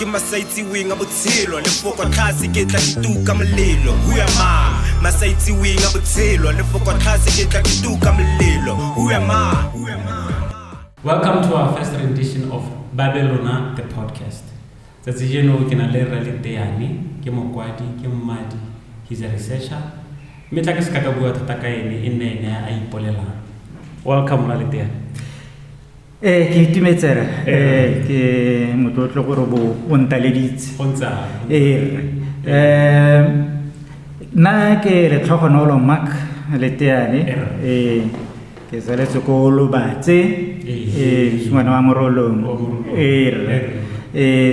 ke masaitsiweng a botshelo lefoko tlhase ke tla ke tuka molelo who am I masaitsiweng a botshelo lefoko tlhase ke tla ke tuka molelo who am I Welcome to our first rendition of Babelona the podcast. Tsatsi jeno ke na le Rally Teane, ke mokwadi, ke mmadi, he's a researcher. Mme tla ke se ka ka bua thata ka ene e nne ene a ipolelang. Welcome Rally Teane. ee ke itumetsere ee ke motlotlo gore bo o ntaleditse ee rre um nna ke letlhogonolo mark leteane ee ke tsaletse ko lobatse ee ngwana wa morolong ee rre ee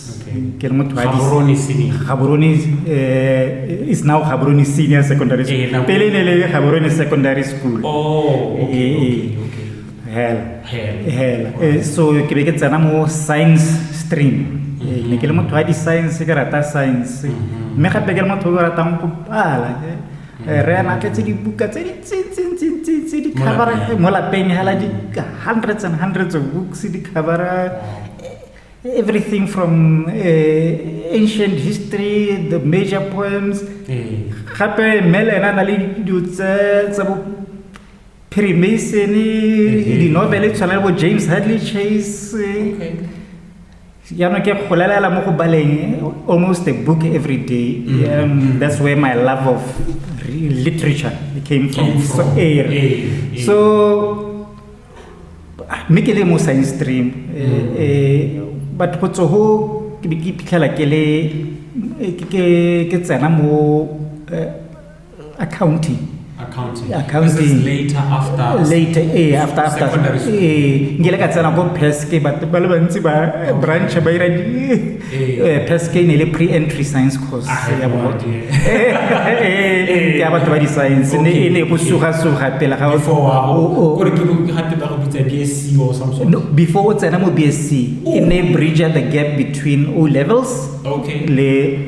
Okay. Ke re motho wa Gaborone Senior. Gaborone eh is now Gaborone Senior Secondary School. Eh, na- Pele ne le Gaborone Secondary School. Oh, okay, Eh, okay, eh. okay. Hela. Hela. Hela. Eh, so ke be ke tsena mo science stream. Eh, Ne ke le motho wa di science ke rata science. Mhm. Mme gape ke le motho o ratang go pala. eh. Eh, Re ana tletse dibuka tse di tse tse tse tse tse di Mo cover lapeng. mo lapeng hela di hundreds and hundreds of books di cover Everything from uh, ancient history, the major poems. Eh. Gape Mel ena na le dilo tse tsa bo Freemason, eh, di novel tshwana le bo James Hadley Chase. Eh. Okay. Yano ke golelela mo go baleng almost a book every day. Mm -hmm. um, that's where my love of literature came from. Came from. So, eh, eh, eh. so mme ke le mo science stream mm. eh, batho go tsogo ke ke phitlhela ke le eh, ke ke tsena mo eh, accounting accounting accounting later after later eh after after eh ngile ka tsena go pes ke batho ba le bantsi ba branch ba ira ee peske e ne le pre-entry science course ah, ya bogote ee, ya batho ba di-science ne e ne go suga-suga pele ga before o tsena mo b s c e ne bridger the gap between o levels le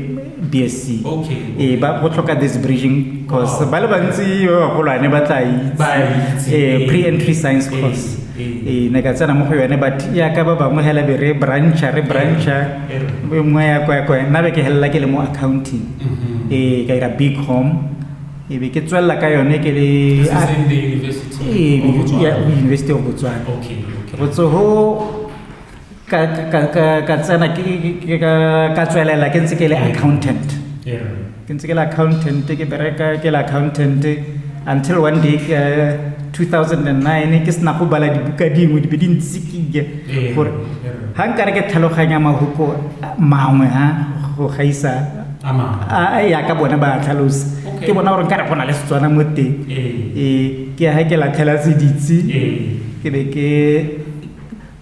BSC. Okay. Eh ba go tlhoka this bridging course. Wow. Ba le bantsi ba bagolwane ba tla itse. Eh pre-entry science eh, course. Eh. eh ne ka tsena mo go yone but ya ka ba bangwe hela be re brancha re brancha eh, nngwe ya kwa kwa nna be ke helela ke le mo accounting mm-hmm. eh ka ira big home e be ke tswelela ka yone ke le ah, university of botswana ke go tsoho ka tsena ka tswelela ke ntse ke le accountant ke ntse ke le accountant ke bereka ke le accountant until one day ke 2009 ke sena go bala dibuka dingwe di be di ntsikile gore ga nkare ke tlhaloganya mahuko mangwe ha go gaisa ya ka bona ba tlhalosa ke bona gore nkare go na le setswana mo teng ee ke ya ga ke latlhela seditse ke be ke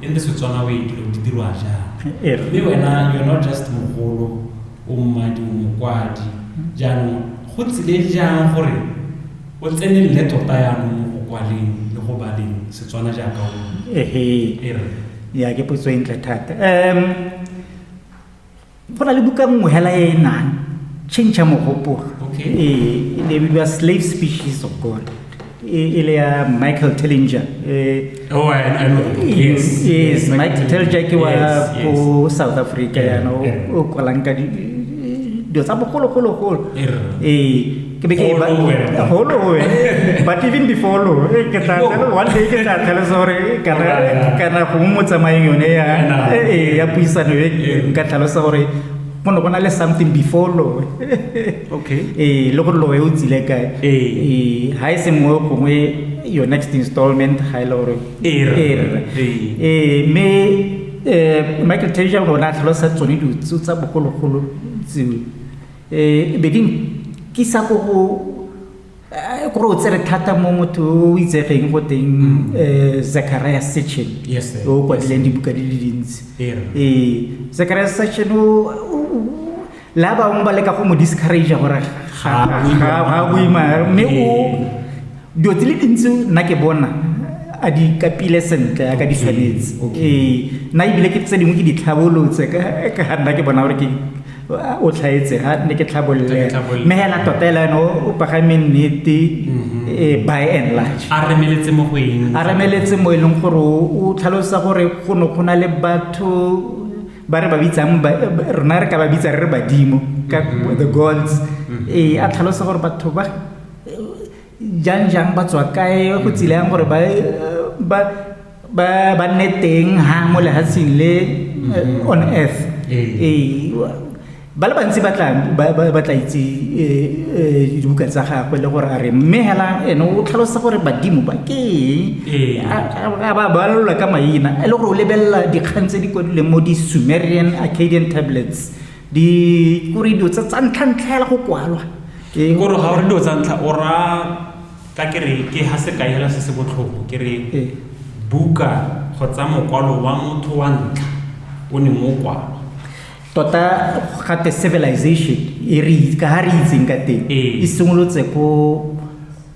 e le setswana o etile di dirwa jang Ee. mme wena you're not just mogolo o mmadi o mokwadi jaanong go tsile jang gore o tsenelele tota yanong mo go kwaleng le go baleng setswana jaaka o ehe e re ya ke potso e ntle thata um go na le buka nngwe hela e e nang change ya mogopolo Okay. e e ne e bidiwa slave species of god e e le ya michael tellinger e Oh, I, I know. the book. Yes. yes michael tellinger ke wa Yes, yes. ko south africa Yeah, yana o- yeah. o kwalang ka di- dilo tsa bogologologolo Err. ee ke be ke e ba holo ho but even before lo e ke tla tla one day ke tla tla sore kana kana go mo tsamaeng yone ya e e ya puisano e ka tla sa gore go ne go na le something before lo okay e le gore lo e o tsile kae e ha e se mo gongwe your next installment ga e le gore e re e me eh Michael Tasia o ne a tlhalosa tsone ditso tsa bogologolo tseo um bedimo ke sa ko go eh, kore o tsere thata mo motho o itsegeng go teng um zachariah section o kwadileng dibuka di le dintsi ee zachariah section la bangwe ba leka go mo discourage gore ga boima mme o dilo di le dintsi nna ke bona a di kapile sentle a ka di tshwanetse ee nna ebile ke tse dingwe ke di tlhabolotse ka nna ke bona gore ke o tlhaetse ga ne ke tlhabolole mme hela tota ela ene o pagame nnete mhm. eh, by and large a remeletse mo go eng a remeletse mo e leng gore o tlhalosa gore go ne go na le batho ba re ba bitsang rona re ka ba bitsa re re badimo ka mhm. the gods mhm. ee a tlhalosa gore batho ba jang jang ba tswa kae go tsile yang gore ba ba ba ba nne teng ha mo lehatsheng le eh, on earth ee ba le bantsi ba tla ba- ba ba tla itse eh, eh, dibuka tsa gagwe le gore a re mme hela ene o tlhalosa gore badimo ba ke Ee. eng A- a a ba balelwa ka maina e le gore o lebelela dikgang tse di kwadileng mo di-sumerian arcadian tablets di kore dilo tsa tsa ntlhantlha hela go kwalwa Ke gore ga o re dilo tsa ntlha o ra ka ke re ke ha sekai hela se se botlhoko ke re Ee. buka kgotsa mokwalo wa motho wa ntlha o ne mo kwalo tota gate civilization e re ka ga re itseng ka teng Ee. e simolotse ko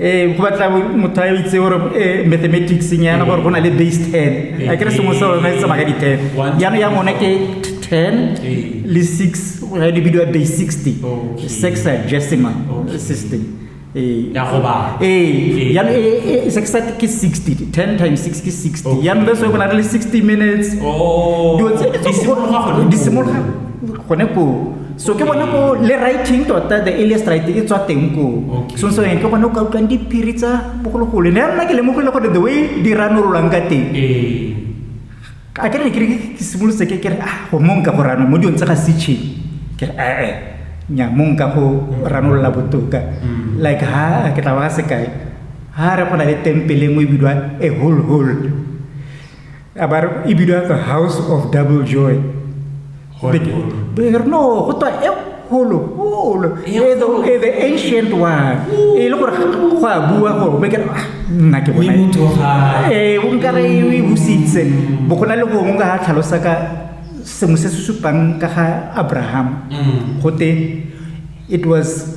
ee go batla motho a itse gore eh, mathematicseng yana gore go na le base ten a kere sengwe se rona e tsamaya ka di-ten yana ya ngone ke ten le six ga di bidiwa base sixty sexagesimal system ee yana sexat ke sixty ten times six ke sixty yana le so go na le sixty minutes oh. dilo tse di simologa gone koo so ke bona ko le writing tota the alias right e tswa teng ko so so ke bona o ka utlwang diphiri tsa bogologolo ne nna ke lemogile gore the way di ranololang ka teng eh. a ke re ke re ke simolotse ke ke re ah go mong ka go rano mo dilong tsa ga sitšhe ke re ee eh, eh, nya mong ka go ranolola botoka mm. like ha ke tla ba sekai ha re go na le tempele nngwe e bidwa a whole whole a ba e bidiwa the house of double joy no go twa e kgolo kgolo the ancient one e le gore go a bua gore be kere ah, nna ke bona ee o nkare e busitse mm. bo go na le gongwe ka ga tlhalosa ka sengwe se se supang ka ga abraham mm. gote it was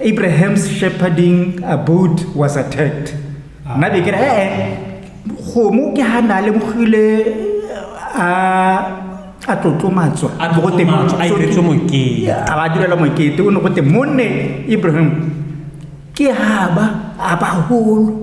abraham's shepherding abode was attacked ah. nna be kere ee eh, eh, gomo ke ga na lemogile a a tlotlomatswa a ba direla mokete o ne go te monne ibrahim ke ga ba a bagolo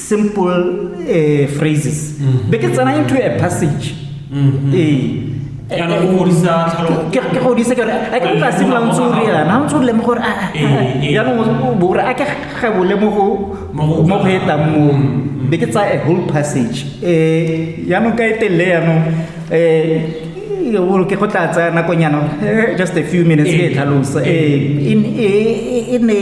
simple uh, phrases mm -hmm. be ke tsena into a passage mm -hmm. eh ke godisa ke gore a ke ka simla ntse o re yana ntse o lemo gore jaanong bo gore a ke gebole mo go mo go etang moo be ke tsaya a whole passage um jaanong ka e telele jaanong um ke go tla tsaya nakonyana just a few minutes ke e tlhalosa um e ne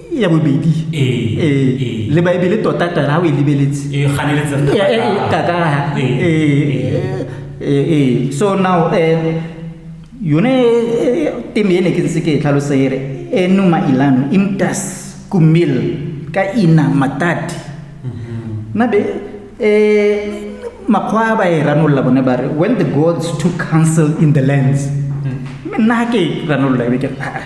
ya bobedi le baebele tota tana ga o e lebeletse so now um yone teme e ne ke ntse ke e tlhalosa ere enuma ilano imtas kumil ka ina matati mm-hmm. nabe um makgwa a ba e ranolola bone ba re when the gods took council in the lands mm. mme nna ga ke ranolola ebe ke aa ah, ah.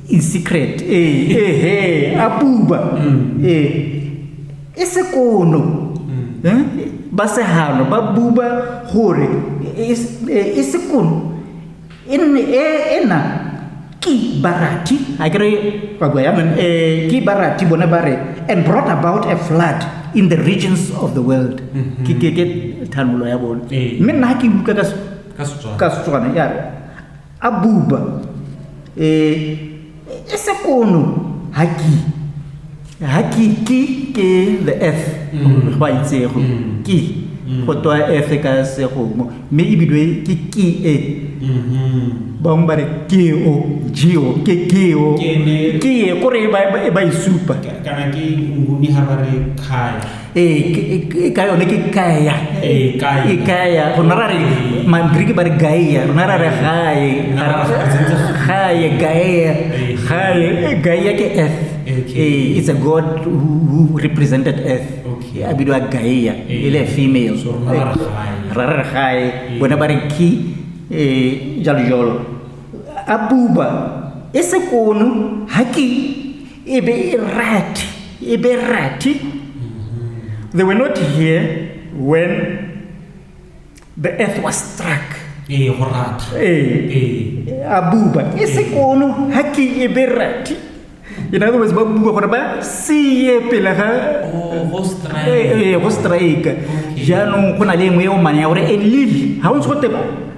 in secret ee ehe a buba ee e sekono Eh, ba sehano ba buba gore e- e e sekono e nne e- ena ke barati a kere ba bua yang um ke barati bone ba re and brought about a flood in the regions of the world ke ke ke thanolo ya bone Ee. mme nna ha ke utlwa ka se- ka setswana ka setswana ya re Abuba, e, e se kono haki. Haki ki ke the F. Mm. Ba itsego. Mm. Ki. Mm. Go toa F ka se go mo. Me e bidwe ki ki e. Mhm. Ba mo bare ki o, ji o, ke ki o. Ki e kore e ba e ba isupa. Kana ki nguni ha bare kai. ee e ka yone ke kaya e kaya go nna ra re magriki ba re gaia rona ra re gae gae gaia gae gaia ke earth okay. it's a god who represented earth a bidiwa gaia e le female ra re gae bone ba re ki jalo jalo a buba e sekono ha ke e be e rat e be rat they were not here when the earth was struck ee go rat ee ee a buba e se kono ha ke e be rat in other words ba bua gore ba seye pele ga oh go strike ee go strike Okay. jaanong go na le e nngwe e o mane ya gore e lile ga o ntse go teba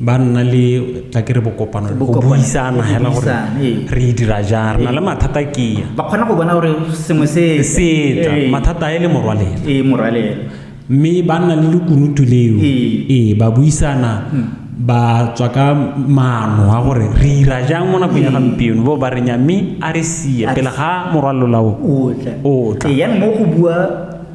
ba nna le tla ke re bokopano go buisana hela gore re e dira jang re na le mathata kea ba kgona go bona gore sengwe se setla mathata a e le morwalela ee morwalela mme ba nna le lekunutu leo ee ba buisana hmm. ba tswa ka maano a gore re ira jang mo nakong ya gampieno bo ba re nya mme a re sie pele ga morwalolao o tla ee, yaanong mo go bua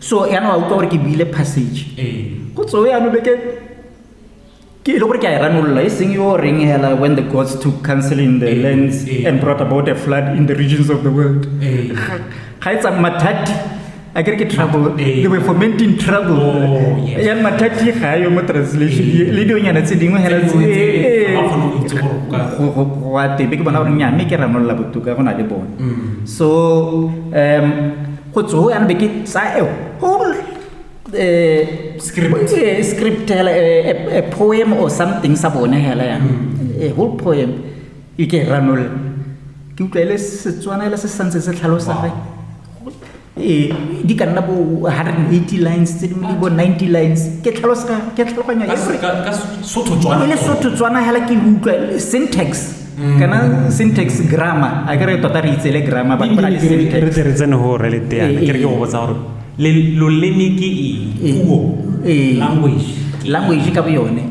so yana wa utlwa gore ke buile passage ee. go tsoe yano beke ke e le gore ke a e ranolola e seng yo reng hela when the gods took counsel in the ee, lands ee. and brought about a flood in the regions of the world ga e tsang mathati a kere ke trouble they were fomenting trouble oh, yan mathati ga yo mo translation le dionyana tse dingwe hela wa tebe ke bona gore nya mme ke ranolola botoka go na le bone mm. so um go tsoho yana be ke sa a whole uh, script, uh, script hela a, a, a poem or something sa bone hela ya mm. a whole poem e ke ranol ke utlwa ile setswana ile se santse se tlhalosa ge e di ka nna bo 180 lines tse dingwe di bo 90 lines ke tlhalosa ke tlhaloganyo e le sotho tswana hela ke utlwa syntax kana syntax grammar a ke re tota re itse le grammar ba ba le syntax re tsere tsene ho re le teana ke re ke go botsa gore le loleme ke eng puo language language ka boyone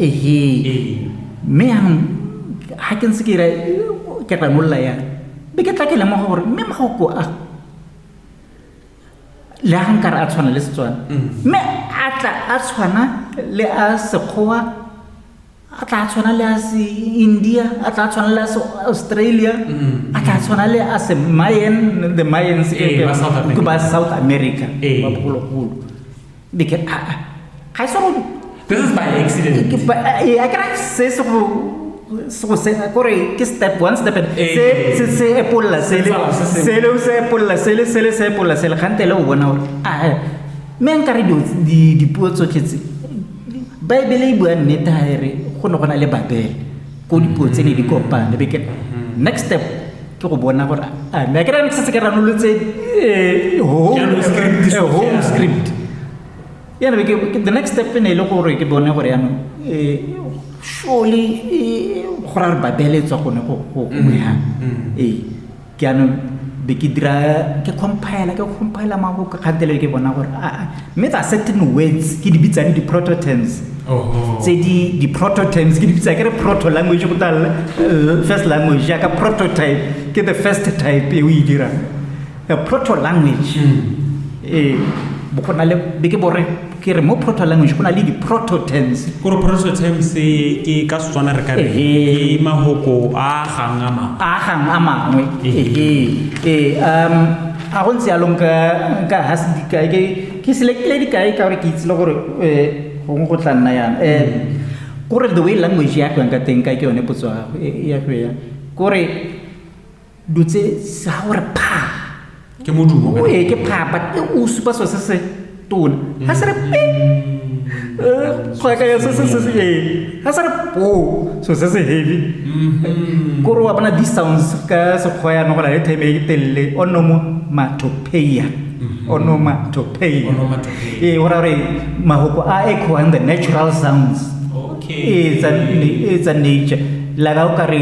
ehe mme yanong ga ke ntse ke ira ke ranolla ya be ke tla ke lemoga gore mme magoko a le a nkare a tshwana le setswana mme a tla a tshwana le a sekgowa a tla tshwana le a se india a tla tshwana le a se australia mm-hmm. a tla tshwana le a se mayan the mayans eh, ke ba south america eh. ba bogologolo because ah, ah, ga e sego this is by accident ke eh, a kra se se go so se kore ke step one step se se se epolla se le se le se epolla se le se le se epolla se le gante le o bona gore a ah, me nkare di di puo tsotletse baebele e bua nnete ga e re go ne go na le babele ko dipuo tse ne di kopane be ke mm-hmm. next step ke go bona gore a mme a ke rane ke setse ke ranolotse eh, home eh, script yana be ke the next step e ne e le gore ke bone gore yanong eh, surely go ra re babele e tswa gone go go go mm-hmm. ee ke anong be ke dira ke compile ke compile mako ka kgantele ke bona gore a ah, ah. mme tsa certain words ke di bitsang di prototerms tse di di prototerms ke di bitsa ke re proto language go tala eh, first language ya ka prototype ke the first type e o e dira proto language mm. eh bo gona le be ke bore ke re mo proto language go na le di-prototense gore prototense ke ka setswana re kare ke mahoko a gang a mangwe a gang a mangwe ee um a go ntse yalo nka ga se dikae ke selekile dikae ka gore ke itsile gore eh, gongwe go tla nna yana um eh, kore the way language ya go yang ka teng ka ke yone potso ya go ya kore do tse sa gore pha ke modumo o e ke pha but e o supa so se se tona ha se re pe ga ka ya se se se e ha se re po so se se heavy mm-hmm. ko re wa bona these sounds ka se khoya no gola le time e telle o no mo matopeia mm-hmm. onomatopeia e ora re mahoko a echo and the natural sounds okay it's a it's a nature la ka o ka re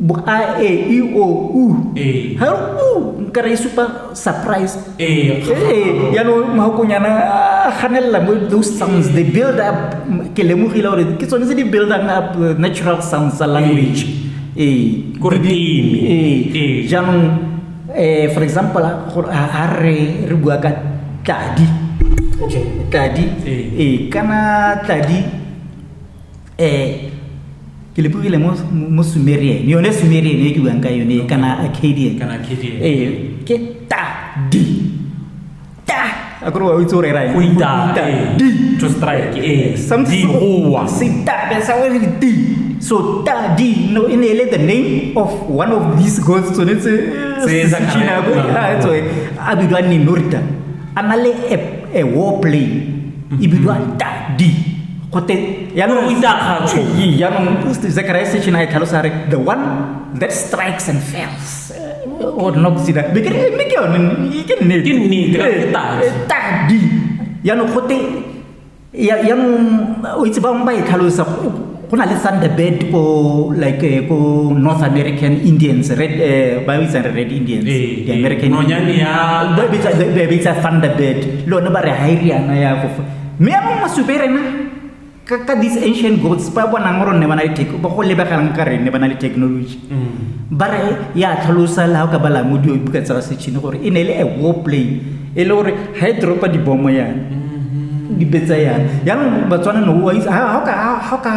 bo a e i o u ee. ha u nka re supa surprise ee, ee ya no mahokonyana a ganella mo those sounds they build up ke lemogile gore ke tsone tse di buildang up uh, natural sounds tsa language ee gore di ee jaanong eh for example gore ha re re bua ka tladi tladi ee kana tladi eh ke lepogile mo mo sumerian yone sumerian e ke buang ka yone kana arcadian kana arcadian eh ke ta di ta akore wa itse o rera eng go ita eh. di to strike eh something o wa se ta be sa wa di so ta di no in ele the name of one of these gods so it's se sa kana go ha so a bidwa ni norita a na le a war plane e bidwa ta di gote yaanong o itakgatsho yaanong zechariah sechina e tlhalosa re the one that strikes and fails or not see that because it make you ke nne ke nne ke ta ta di ya no gote ya ya no o itse ba mba e tlhalosa go na le thunderbird ko like eh, ko north american indians red eh, ba itse re red indians eh, the american no nyane ya ba bitsa thunderbird lo ne ba re hairiana ya go mme ya mongwe supe rena ka these ancient gods ba bonang gore ne ba na le ba go lebegelang ka rene ba na le technology mm. ba re ya tlhalosa le ga o ka bala mo dio buka tsa setšhini gore e ne e le a war play e le gore ga e dropa dibomo yana mm-hmm. dipetsa yana yaanong batswana no ga o ka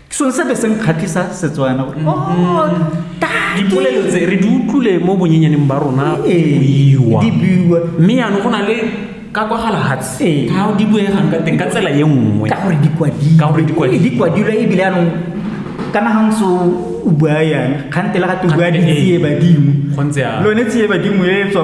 ke sone sepe se nkgatlhisa setswana gore oh, dipolelo tse re di utlwile mo bonyenyaneng ba rona buiwa mme yanong go na le ka kwa galahatsi ee. ga o di buegang ka teng ka tsela ye nngwe ka gore dikwadilwe ee, ebile anong kana ga ntse o bua yana kgante le gate o bua ditsie badimo lone tsie badimo e tswa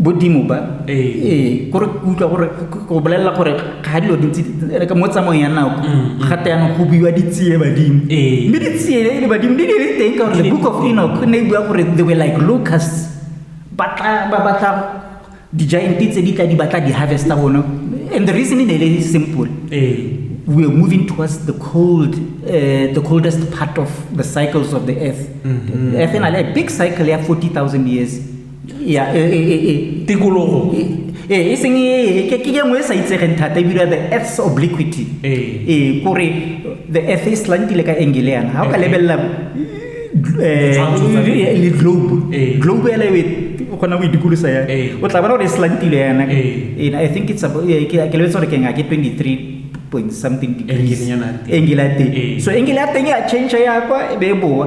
bodimo ba ee kore ke utlwa gore go bolelela gore ga dilo dintsi ka mo tsamaong ya nako mm, mm. gate yanong go buiwa ditsie badimo mme ditsie le badimo di le teng ka gore the book of enoch ne e bua gore they were like locus ba batla di-giant tse di tla di batla di-harvesta bone and the reason e ne e le simple we are moving towards the cold, uh, the coldest part of the cycles of the earth. Mm -hmm. Earth in a big cycle, yeah, 40,000 years. ya e, e, e, e. tikologo e, e, e seng e, e, ke ke engwe e sa itsegeng thata e bira the earth's obliquity Eh. e kore the earth e slantile ka engele yana ga o ka Eh. lebelela eh, Ditshwantsho tsa le- le globe Eh. globe ela e kgona go idikolosa ya Eh. o tla bona gore e slantile yana Eh. And i think it's about- eh, ke ke lebetse gore ke nga ke 23 point something degrees Engele yana ya teng. engele ya teng Eh. so engele ya teng ya change ya kwa e be e boa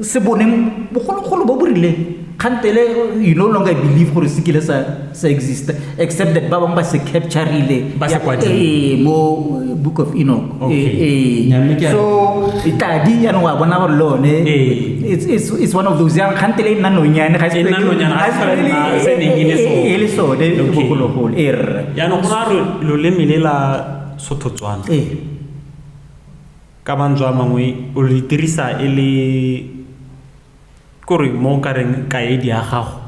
se boneng bogologolo bo bo rileng kgantele you no longer believe gore se kile sa sa exist except that ba bangwe ba se capturile Ba se kwadile. Eh, mo eh, book of enoch Okay. Eh, eh. Nya, mme ke a- so tadi yanong wa bona gore le one Eh. it's- it's it's one of those yang kgantele e nna nonyane ga E nna nonyane, ga se tlhole nna se neng e le sone. e le sone Okay. bogologolo e rre jaanong go ra re loleme le la sothotswana ee Ka mantswe a mangwe o le dirisa e le kore mo o ka reng kaedi ya gago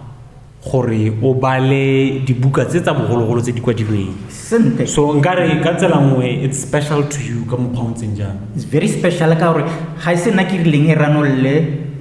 gore o bale dibuka tse tsa bogologolo tse di kwadilweng sentle so nkare ka tsela nngwe it's special to you ka mokgwa o ntseng jang it's very special ka gore ga e se nna ke rileng e ranolle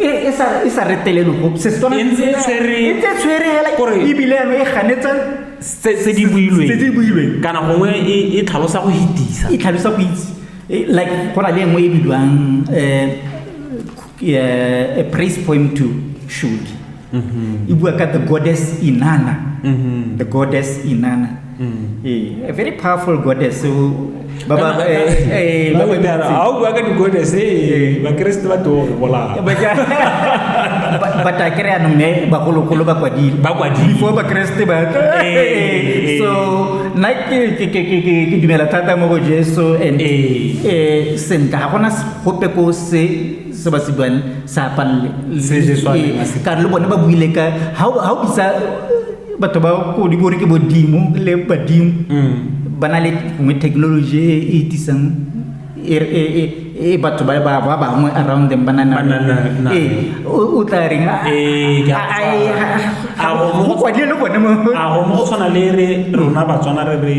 e sa retelelo go se setswana e ntse tshwere e ntse tshwere hela gore bibele ya e ganetsa se di builweng se di builweng kana gongwe e, e tlhalosa go hitisa e tlhalosa go itse e, like go na le engwe e bidiwang eh, eh a praise poem to shoot mm-hmm. e bua ka the goddess inana mm-hmm. the goddess inana mm. eh, a very powerful goddess so ba ba eh, eh, ba ba ha o bua ka di-goddess eh, bakeresete ba too go bolaa but a kere anong ne bagologolo ba kwadile ba kwadile before bakeresete ba so nna ke dumela thata mo go jesu and sentle ga gona gope ko se se ba se buang sa palle ka le bone ba buile ka ha o bitsa batho ba ko di bore ke bodimo le badimo mm. ba na le gongwe technology e e tisang e, e, e, e batho ba ba bangwe around them banana ee o tla reng a go kwadile le bone mo a go mo tshwana le re rona batswana re re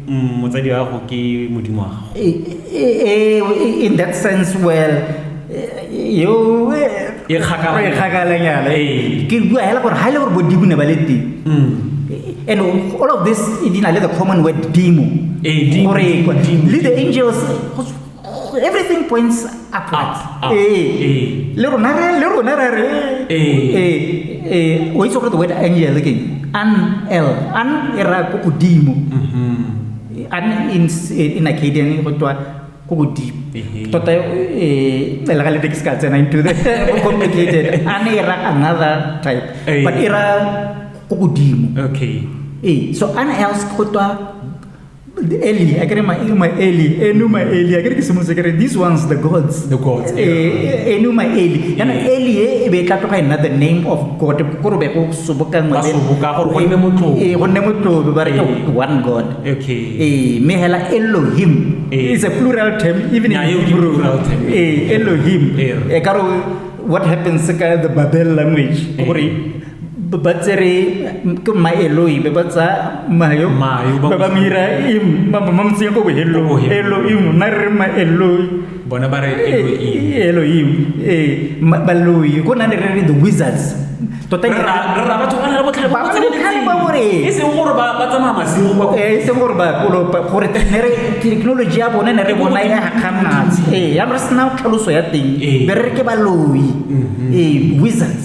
mm, motsadi wa go ke modimo wa gago in that sense well yo e kgakalanyana ke bua hela gore ga e le gore bodimo ne ba le teng mm. and all of this e di na le the common word dimo gore le the angels everything points upwards ee le rona re le rona re re ee o itse gore the word angel ke an l an e raya ko godimo mm-hmm. I'm in, in Acadian, go twa go go deep. Tota e le ga le tekisi ka tsena into the complicated. A ne era another type. But era go go dimo. Okay. Eh, so an else go twa Eli, I can my my Eli, Enuma Eli, I can ke semose kere these ones the gods. The gods. Eh, Enuma Eli. Yana Eli e be tla tloga nna the name of God. Go go sobokangwe Ba soboka gore go nne motlotlo. ee go nne motlotlo ba re ke Ee. one god Okay. ee mme hela elohim Ee. is a plural term even Yeah, in e ke Hebrew. plural term. ee elohim Ee. e ka re what happens ka the babel language Ee. gore ba- ba tsere ke maeloi be ba tsa mayo Mayo, ba ba ba mo- mo ira im ba ba mo mtsenya ko bohelong Ko bohelong. elohim na re re maeloi bona ba re elohim ee baloi go na le re re the wizards tota eseng gore gore technology ya bone ne re bona e gakgamatse ee yanong re sena tlhaloso ya teng be re re ke baloi ee wizards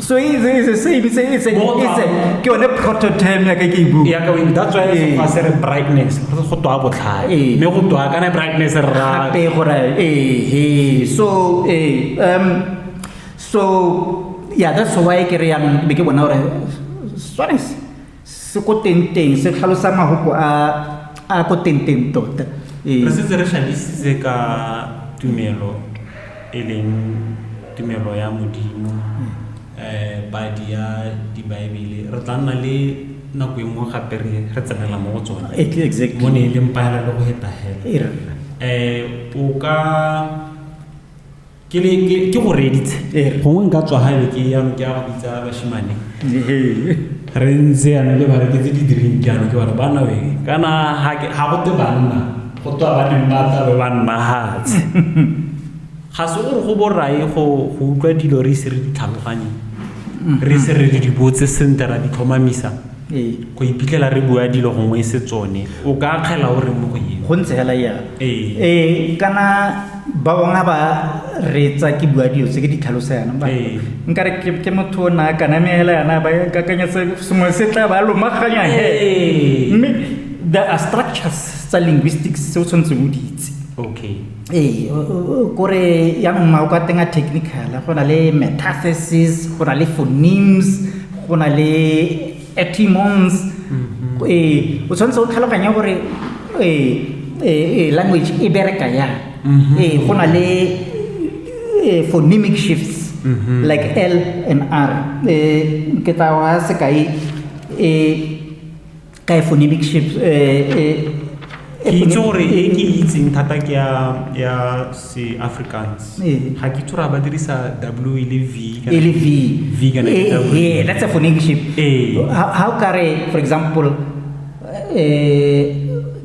so it's it's the same it's a, it's a, Both it's a, are- ke yone prototerm ya ka ke e bua ya ka wing that's why Ee. fa se re brightness re go twa botlhale Ee. mme go twa kana brightness re ra gape gore ee so ee um so yeah that's why ke re yang be ke bona gore swanese Se ko tengteng se tlhalosa mahoko a a ko tengteng tota. Ee. Re setse re tlhalositse ka tumelo e leng tumelo ya Modimo, eh padi ya Dibaebele. Re tla nna le nako e nngwe gape re re tsenela mo go tsone. E ke exactly. Mo ne e leng pahelelo go heta hela. E rra. Eh o ka ke ne ke ke go reditse Ee. gongwe nka tswa gaebe ke yano ke ya go bitsa bashimane re ntse yana le bare ke tse di drink yana ke bare bana we kana ga ke- ga go te banna go twa ba neng ba tla be ba nna hatse ga se gore go borae go go utlwa dilo re ise re di tlhaloganye re ise re di botse sentle ra di tlhomamisa Ee. Go iphitlhela re bua dilo gongwe e se tsone. O ka akgela o reng mo go eng? Go ntse fela jalo. Ee. Ee, kana ba bangwe ba reetsa ke bua dilo tse ke di tlhalosa yana. Ba- Ee. Nka re ke- ke motho o na a kana mme hela yana ba kakanyetsa sengwe se tla ba lomaganya he. Ee. Mme there are structures tsa linguistics tse o tshwanetseng o di itse. Okay. ee kore ya mma o ka tenga technical go na le metathesis go na le phonemes go na le etimons mm-hmm. ee o tshwanetse o tlhaloganya gore ee language e bereka ya mm-hmm. ee go na le phonemic shifts mm-hmm. like l and r ee ke tsa wa sekai ee ka e phonemic shape ke itse gore e ke itseng thata ke ya se africans ga ke itse gore ba dirisa w e le v e le v v kana e that's a phonemic shape how kare for example eh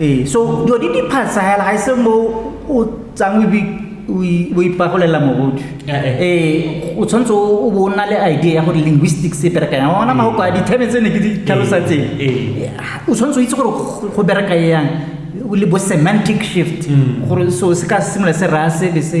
ee so dilo di diphasela ga e se mo o tsang o ipagolela mogodu ee eh, eh. eh, o tshwanetse o bo o nna le idea ya gore linguistic se berekayang ona magoko a dithebe tse ne ke di tlhalosa tseng o tshwanetse o itse gore go bereka yang le bo semantic shift mm. gore so se ka simolola se raya sebe se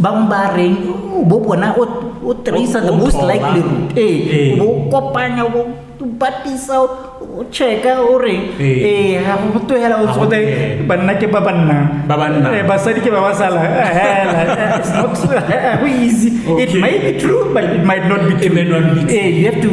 bang bareng bo bona o o tracer the most likely route ee o kopanya o batisa o checka o reng ee ga go togela o tsote banna ke ba banna ba banna basadi ke ba ba sala hela it's not go easy it might be true but it might not be true ee you have to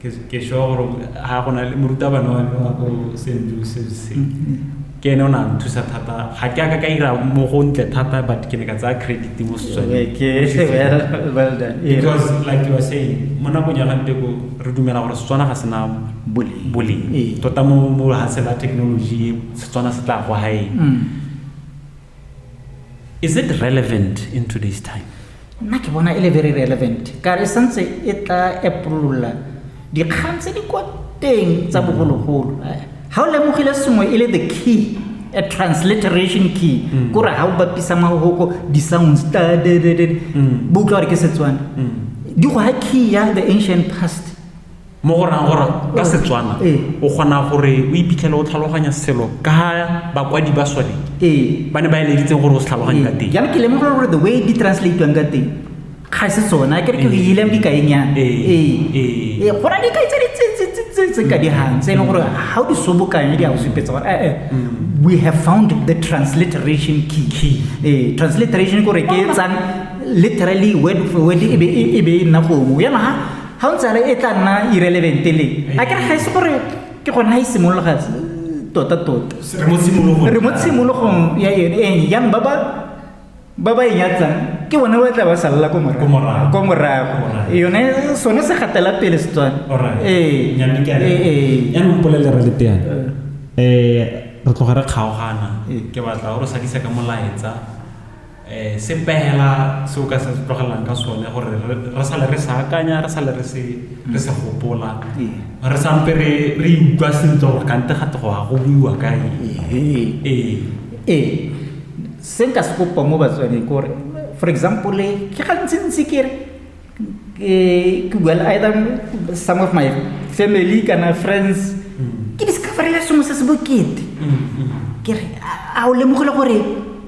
ke sure gore ga go na le morutabana wa me wa ko st joseph se ke ene o ne a nthusa thata ga ke aka ka ira mo go ntle thata but ke ne ka tsaya credit mo setswanebecause like you are saying mo nakong ya ganteko re dumela gore setswana ga sena boleng ee. tota mo ga sela technology setswana se tla go gaeng mm. is it relevant in today's time nna ke bona e le very relevant ka re santse e tla epolola dikgang tse di kwa teng tsa mm. bogologolo eh, ga o lemogile sengwe e le the key a transliteration key mm. kore ga o bapisa mahoko di-sounds mm. bo utlwa gore ke setswana di go ga key ya the ancient past mo go rang gore ka oh, setswana eh. o kgona gore o iphitlhele o tlhaloganya selo ka bakwadi ba sone eh. ba ne ba eleditseng gore o se tlhaloganye eh. ka teng jalo ke lemoga gore the way di translatiwang ka teng ga se tsona ke re ke ileng dikaenyana ee go na dikai tse ditse ka digang tse e leng gore ga o di sobokanye di a go supetsa gore ee mm. we have found the transliteration key key ee transliteration kore ke etsang literally word for word e be e nna gongwe yana ga ga o ntsale e tla nna irelevente le a kere ga e se gore ke gone ga e simolola ga tota tota re mo tshimologong ya yone e yang ba ba ba ba e nyatsang ke bone ba tla ba salela ko morago ko morago yone sone se gatela pele setswana ee yaanong polelera le teana um re tloga re kgaogana ke batla o re sadisa ka molaetsa um se pela se o ka se tlogelang ka sone gore re sale re sa akanya re sale re se re se gopola re sampe re re utlwa sentle gore kante gate go ya go buiwa ka eng ee ee se nka se kopa mo batswaneng ke gore for example ke gantsintsi ke re ke bua le either some of my family kana friends ke discoverele sengwe se se bokete ke re a o lemogile gore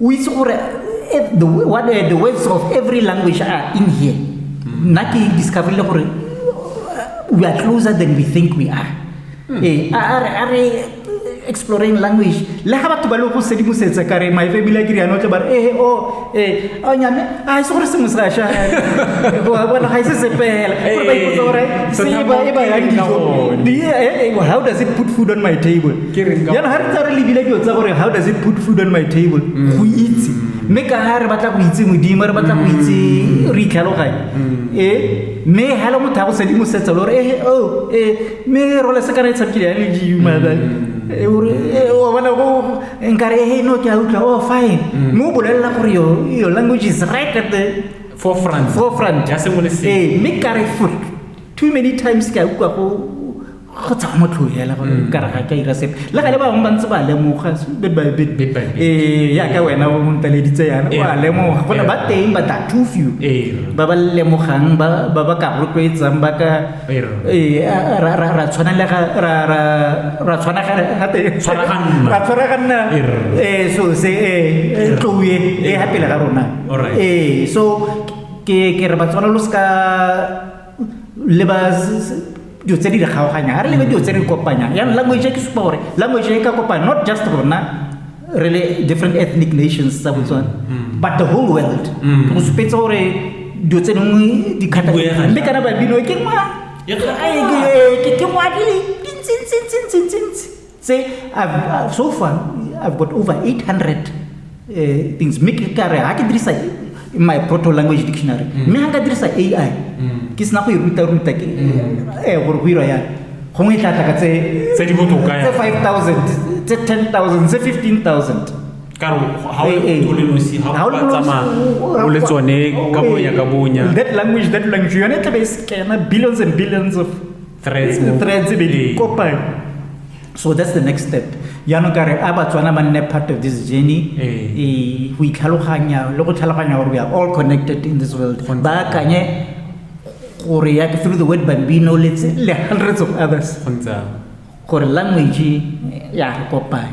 o itse gore eh, the, what, uh, the words of every language are in here hmm. nna ke discoverile gore uh, we are closer than we think we are hmm. eh, a re exploring language le ga batho ba le go sedimosetsa ka re maefe ebile ke riano tle ba re ee o ee a nyame a se gore sengwe se asha bona ga ise se fela gore ba ipotsa gore se e ba e ba yang dijo how does it put food on my table Ke reng ka- jaanong ga re tsa re lebile dilo tsa gore how does it put food on my table go itse mme ka ga re batla go itse modimo re batla go itse re itlhaloganye e mme ga le motho a go sedimo setsa le gore ehe o e mme role se kana e tshamekile ya le dimo mara e gore e o bona go nkare ehe no ke a utlwa oh fine mme o bolelela gore your your language is right at the forefront forefront ya sengwe le sengwe ee mme kare for too many times ke a utlwa go go tsa go motlho hela ba mm. ka raga ka ira sepe le gale ba bangwe ba ntse ba lemoga bit by bit ee ya ka wena o ntaleditse yana o a lemoga gona ba teng ba that two few ba ba lemogang ba ba ba ka rotloetsang ba ka ee ra ra ra tshwana le ga ra ra ra tshwana ga ga te tshwaraganna ra tshwaraganna ee so se ee tloe ee ha pele ga rona ee so ke ke re ba tshwana lo ska leba dilo tse di re kgaoganyang ga re lebe dilo tse di kopanyang yang language e ke supa gore language e ka kopanya not just rona re le different ethnic nations tsa botswana mm. but the whole world mm. go supetse gore dilo tse dingwe di kgata mme kana babino ke ngwa ke ngwa di le dintsintsintsintsintsi tse I've, so far i've got over 800 uh, eh, things mme ke kare ga ke dirisa my proto language dictionary mm. mme ga ka dirisa ai mm. ke sena go e ruta-ruta ke mm. eh, gore go irwa yang gongwe e tla tla ka tse 5000 tse 10000 tse 15000 ka re ga o le nosi ga o tsamaya o le tsone ka bonya ka bonya that language that language yone tlabe e scana billions and billions of threads mo- threads be di Ee. kopane so that's the next step jaanong ka re a batswana ba nne part of this journey Ee. ee, go itlhaloganya le go tlhaloganya gore we are all connected in this world Go ntse ba akanye gore ya through the word bambino le tse- le hundreds of others go ntse jalo. gore language ya re kopane